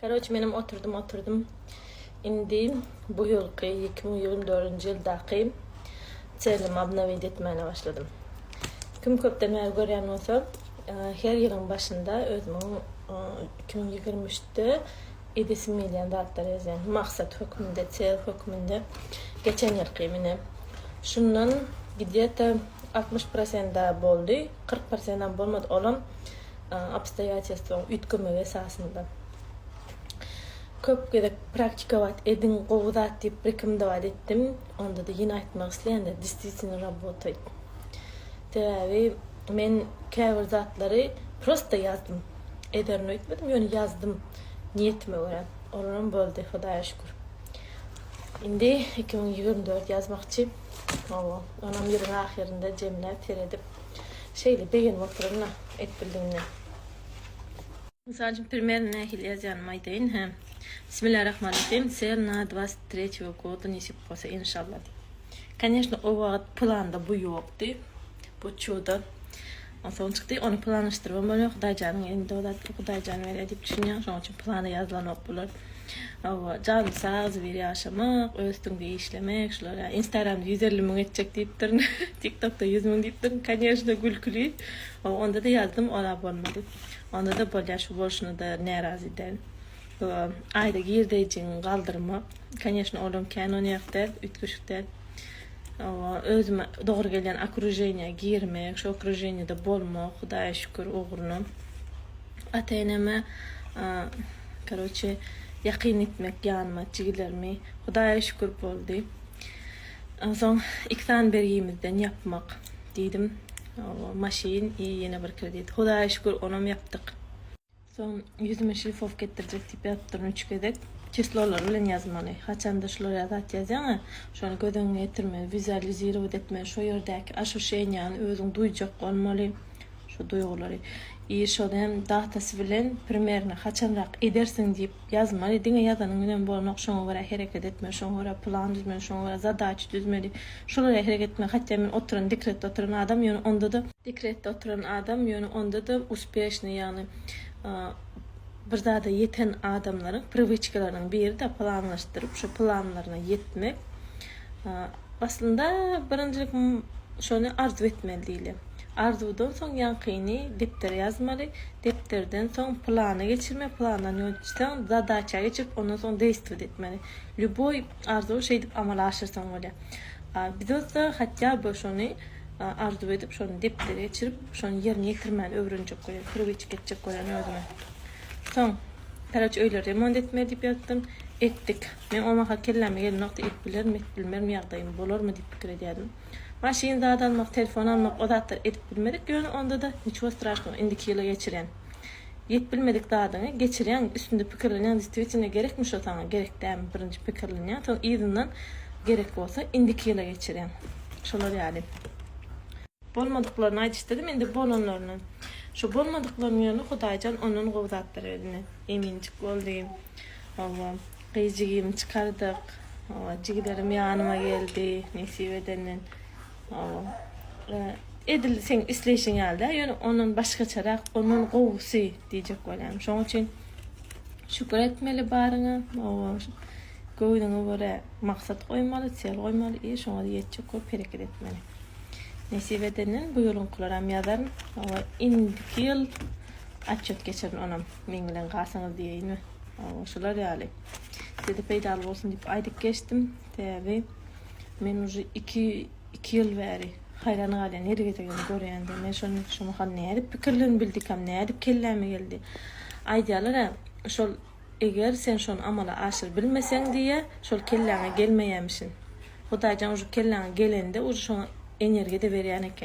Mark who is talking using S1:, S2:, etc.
S1: Karoç menem oturdym oturdym indi bu ýylky iki müň ýigrimi dördünji ýyldaky çenlimi obnowit etmäne başladym kim köpden bäri görýän bolsa her ýylyň başynda özümiň iki müň ýigrimi üçde edesim gelýän zatlary ýazýan maksat hökmünde çel hökmünde geçen ýylky mine şundan gdýeta altmyş prosent boldy kyrk prosentam bolmady olam obstoýatelstwonyň üýtgemegi esasynda köp gezek praktikować ediň gowy zat diýip rekomendować etdim ondada ýene aýtmak isleýänler desvitwno rabotaýt sebäbi men käbir zatlary prosta ýazdym ederini öýtmedim ýöne ýazdym niýetime görä olaram boldy hudaýa şükür indi iki müň ýigrimi dört ýazmakçy oba onam ýylyň ahyrynda jemläp seredip. Şeýle begenip otyryn-da, et bildigine. Mysal üçin, primer nähili ýazýanymy aýdaýyn, hä. Bismillarahmanrahim, ser na dwasyt treçiýo goda nesip bolsa, inşallah diýip. Koneşno, o wagt planda bu ýokdy, bu çuda. Onsoň çykdy, ony planlaşdyrybam bolmaýar, Hudaýjanyň elinde o zatlar, Hudaýjan berýär diýip düşünýär, şonuň üçin plana ýazylanok bular. Hawa, janyň sag, zibir ýaşamak, öz üstüňde işlemek, şular ýa. Instagramda ýüz elli müň etjek diýipdirin. Tiktokda ýüz müň diýipdirin. Kanyejna gülküli. Hawa, onda-da ýazdym, ora bolmady. Onda-da bolýar, şu bolşuna-da närazy däl. Bu aýda girdeýjiňi galdyrmak, kanyejna, olam kän onýak däl, üýtgeşik däl. Hawa, özüme dogry gelýän okrujeniýa girmek, şu okrujeniýada bolmak, Hudaýa şükür ugruna. Ata-eneme, karoçe, ýakyn etmek ýanyma, jigilerimi, Hudaýa şükür boldy. Onsoň iki sany bergimizden ýapmak diýdim. Hawa, maşyn i ýene bir kredit. Hudaýa şükür, onam ýapdyk. Soň ýüzüme şlifow etdirjek diýip ýazyp durun üç gezek. Çislolary bilen ýazmaly. Haçanda şular ýaly zat ýazýaň-a, şony göz öňüňe getirmeli, wizualizirować etmeli, şo ýerdäki aşuşeniýany özüň duýjak bolmaly, şo duýgulary. I şony hem datasy bilen, primerno, haçanrak edersiň diýip, Ýazmaly, diňe ýazanyň bilen bolanok, şoňa görä hereket etmeli, şoňa görä plan düzmeli, şoňa görä zadaça düzmeli, şola görä hereket etmeli, hatýa men oturan, dekretde oturan adam, ýöne onda-da, dekretde oturan adam, ýöne onda-da uspeşnyý, ýagny bir zada ýeten adamlaryň priwiçkalarynyň biri-de planlaşdyryp, şo planlaryna ýetmek. Aslynda birinjilik şony arzuw etmeli diýle. Arzuwdan soň ýaňkyny depdere ýazmaly, depderden soň plana geçirme, plandan ýöneticden zadaça geçirip ondan soň deýstwet etmeli. Lýuboý arzuwy şeýdip amala aşyrsaň bolýar. A biz bolsa hatýa by şony arzuw edip şony depdere geçirip şony ýerine ýetirmäni öwrenjek bolýan, priwçka etjek bolýan özüme. Soň koroç öýleri remont etmeli diýip ýazdym. Etdik. Men Omaha kelläme gelen wagty edip bilerim, edip bilmerim ýagdaýym bolarmy diýip pikir edýärdim. Maşyn zat almak, telefon almak o zatlary edip bilmedik, ýöne onda-da niçego straşnogo indiki ýyla geçirýän. Edip bilmedik zadyňy geçirýäň, üstünde pikirlenýäň destwitinda gerekmi şo saňa, gerek dälmi birinji pikirlenýäň, soň yzyndan gerek bolsa indiki ýyla geçirýäň. Şolar ýaly. Bolmadyklaryny aýdyşdydym, indi bolanlaryny. Şo bolmadyklarynyň ýerine Hudaýjan ondan gowy zatlar berdi. Eminjik boldy. Hawa, gyz jigimi çykardyk. Hawa, jigilerim ýanyma geldi, nesip edenden. Hawa, edil seň isleýşiň ýaly däl, ýöne ondan başgaçarak, ondan gowusy diýjek bolýan. Şoň üçin şükür etmeli baryňa. Hawa. Göwnüňe görä maksat goýmaly, çel goýmaly i şoňa ýetjek bolup hereket etmeli. Nesip edenden bu ýylyňkylaram ýazaryn we indiki ýyl otçýot geçirin onam meň bilen galsaňyz diýeýinmi. Hawa şular ýaly. Size-de peýdaly bolsun diýip aýdyp geçdim. Sebäbi men uje iki iki ýyl bäri haýran galýan her gezegem görýände men şony şu mahal nädip pikirlenibildikam nädip kelläme geldi. Aýdýalar-a şol Eger sen şony amala aşyryp bilmeseň diýýä, şol kelläňe gelmeýämişin. Hudaýjan ujy kelläňe gelende ujy şoňa energiýa-da berýän eken.